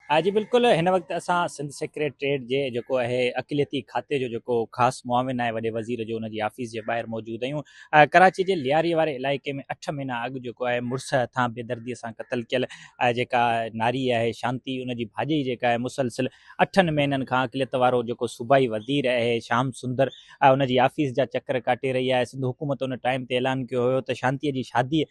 ها جي بلڪل هن وقت اسان سنڌ سيڪريٽريٽ جي جيڪو اهي اقليتي کاتي جو جيڪو خاص معاون آهي وڏي وزير جو ان جي آفيس جي ٻاهر موجود آهيون ڪراچي جي لياري واري علائقي ۾ اٺ مهينا اڳ جيڪو آهي مڙس هٿان بي دردي سان قتل ڪيل جيڪا ناري آهي شانتي ان جي ڀاڄئي جيڪا آهي مسلسل اٺن مهينن کان اقليت وارو جيڪو صوبائي وزير اهي شام سندر ان جي آفيس جا چڪر ڪاٽي رهي آهي سنڌ حڪومت ان ٽائيم تي اعلان ڪيو هيو ته شانتي جي شادي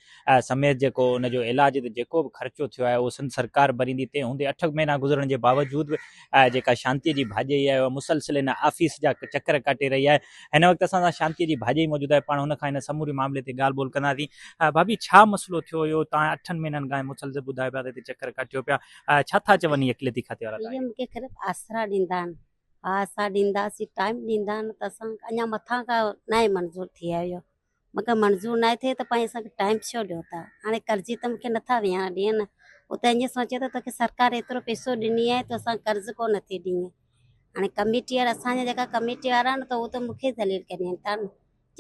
سميت جيڪو ان جو علاج تي جيڪو به خرچو ٿيو آهي اهو سنڌ سرڪار ڀريندي تنهن هوندي اٺ مهينا گذرڻ جي باوجود به جيڪا شانتي جي ڀاڄيئي آهي اها مسلسل ان آفيس جا چڪر ڪاٽي رهي آهي هن وقت اسان سان شانتي جي ڀاڄيئي موجود آهي پاڻ هن کان هن سموري معاملي تي ڳالهه ٻولهه ڪنداسين ڀاڀي ڇا مسئلو ٿيو هيو توهان اٺن مهينن کان مسلسل ٻڌايو پيا ته هتي چڪر ڪاٽيو پيا ڇا ٿا چون هي اقليتي کاتي وارا تاريخ مون کي خيرت آسرا ڏيندا آهن ها اسان ڏينداسين ٽائيم ڏيندا آهن ته اسان اڃا مٿان کان ناهي منظور ٿي آيو مونکي منظور ناهي ٿئي ته پنهنجي سان ٽائيم ڇو ڏيو ٿا هاڻي قرضي ته مونکي نٿا ويهاري ڏيئي نه هو ته ائين سوچي ٿو توکي سرڪار ايترو پيسو ڏني آهي تو اسان قرض ڪو نٿي ڏيئي هاڻي ڪميٽي وارا اسانجا جيڪا ڪميٽي وارا آهن ته هو ته مونکي ذليل ڪري ويهن ٿا نه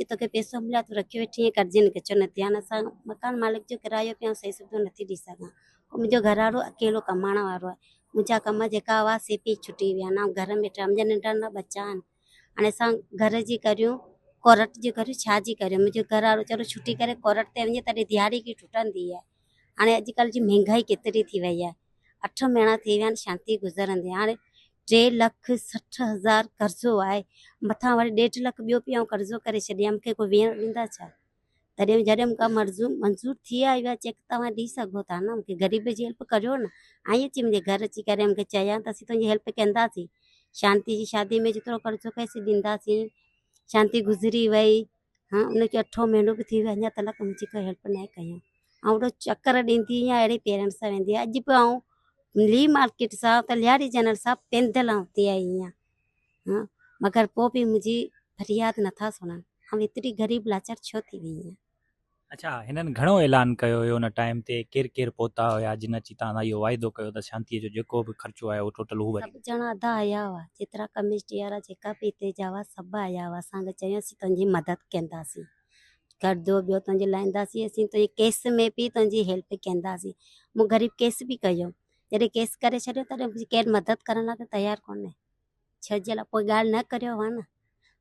جي توکي پيسو مليو تو رکيو ويٺي آهين قرضي نه ڪچو نه ٿي هاڻي اسان مڪان مالڪ جو ڪرايو پيا صحيح سڌو نٿي ڏيئي سگهان منهنجو گهر وارو اڪيلو ڪمائڻ وارو آهي منهنجا ڪم جيڪا هئا سي پي ڇٽي ويا نه گهر ۾ ٽائيم جا ننڊا نه ٻچا آهن هاڻي اسان گهر جي ڪريون ڪورٽ جي ڪريون ڇا جي ڪريون منهنجو گهر وارو ويچارو ڇٽي ڪري ڪورٽ تي وڃي تڏهن ڌياڙي ڪي ٽٽندي آهي هاڻي اڄڪلهه جي مهنگائي ڪيتري ٿي وئي آهي اٺ مهينا ٿي ويا آهن شانتي گذرندي هاڻي ٽي لک سٺ هزار قرضو آهي مٿان وري ڏيڍ لک ٻيو پي آئون قرضو ڪري ڇڏيان مونکي ڪو ويهڻ ڏيندا ڇا تڏهن جڏهن مون کان مرضون منظور ٿي آئي ويا چيڪ توهان ڏئي سگهو ٿا نه مون کي غريب جي هيلپ ڪريو نه ۽ اچي منهنجي گهر اچي ڪري مون کي چيائين ته اسين تنهنجي هيلپ ڪنداسين شانتي جي شادي ۾ جيترو قرضو ڪيسي ڏينداسين شانتي گذري وئي ها ان کي اٺو مهينو به ٿي ويو اڃا تلڪ منهنجي ڪو هيلپ نه ڪيائين ۽ اهڙو چڪر ڏيندي آهيان اهڙي پيرن سان ويندي آهي اڄ به آئون لي مارڪيٽ سان ته لياري جنرل سان پيندل آئون تي آئي آهيان ھئين مگر پوء به منھنجي فرياد نٿا سڻن آئون ايتري غريب لاچار ڇو ٿي وئي آھيان. اڇا ھنن گھڻو اعلان ڪيو ھيو ان ٽائيم تي ڪير ڪير پھتا ھيا جن اچي توھان سان اھو واعدو ڪيو ته شانتي جو جيڪو به خرچو آيو اھو ٽوٽل ھو ڀريندو. سڀ ڄڻا ادا آيا ھئا جيترا ڪميٽي وارا جيڪا به ھتي جا ھئا سڀ آيا ھئا اسان کي چيو اسين تنھنجي مدد ڪنداسين گردو ٻيو تنھنجو لائينداسين اسين تنھنجي ڪيس ۾ به تنھنجي ھيلپ ڪنداسين مون غريب ڪيس به ڪيو. جڏهن ڪيس ڪري ڇڏيو تڏهن به ڪير مدد ڪرڻ لاء ته تيار ڪونهي ڇا جي لاء پوء ڳالهه نه ڪريو هئا نه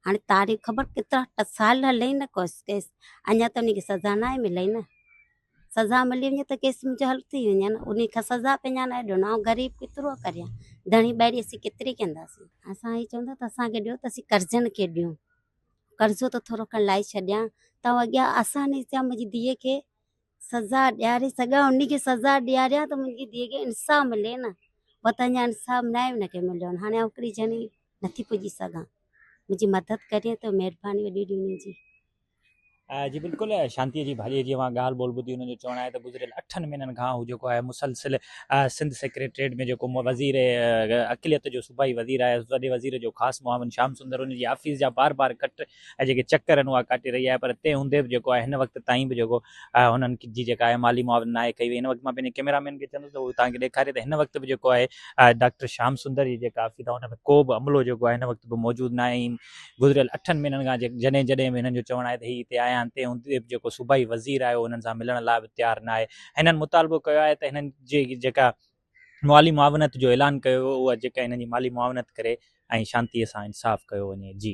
هاڻي تاريخ خبر ڪيترا ٽ سال هلي نه ڪوس ڪيس اڃا ته ان کي سزا نه آهي ملي نه سزا ملي وڃي ته ڪيس منهنجو حل ٿي وڃي نه ان کي سزا به اڃا نه ڏنو آئون غريب ڪيترو ڪريان ڌڻي ٻاهري اسين ڪيتري ڪنداسين اسان هي چوندا ته اسانکي ڏيو ته اسين قرضن کي ڏيون قرضو ته ٿورو کڻ لائي ڇڏيان ته اڳيان آساني ٿيا منهنجي ڌيء کي سزا ڏياري سگهان انهي کي سزا ڏياريان ته منهنجي ڌيء کي انصاف ملي نه وت اڃان انصاف ناهي ان کي مليو هاڻي آئون هڪڙي ڄڻي نٿي پڄي سگهان منهنجي مدد ڪري ته مهرباني وڏي وڏي انهي جي. جي بلڪل شانتيء جي ڀاڄيء جي اوهان ڳالهه ٻولهه ٻڌي انهن جو چوڻ آهي ته گذريل اٺن مهينن کان هو جيڪو آهي مسلسل سنڌ سيڪريٽريٽ ۾ جيڪو وزير اقليت جو صوبائي وزير آهي وڏي وزير جو خاص معاون شيام سندر انهي جي آفيس جا بار بار ڪٽ ۽ جيڪي چڪر آهن اها ڪاٽي رهي آهي پر تنهن هوندي به جيڪو آهي هن وقت تائين به جيڪو هنن جي جيڪا آهي مالي معاونت ناهي ڪئي وئي هن وقت مان پنهنجي ڪئميرا مين کي چوندس ته هو توهان کي ڏيکاري ته هن وقت به جيڪو آهي ڊاڪٽر شيام سندر جي جيڪا آفيس آهي ان ۾ ڪو به عملو جيڪو آهي هن وقت به موجود ناهي ۽ گذريل اٺن مهينن کان جڏهن جڏهن به هنن جو چوڻ آهي ته هي هتي آيا آهن تنهن هوندي به جيڪو صوبائي وزير آهي اهو هنن سان ملڻ لاء به تيار ناهي هنن مطالبو ڪيو آهي ته هنن جي جيڪا مالي معاونت جو اعلان ڪيو ويو اها جيڪا هنن جي مالي معاونت ڪري ۽ شانتي سان انصاف ڪيو وڃي جي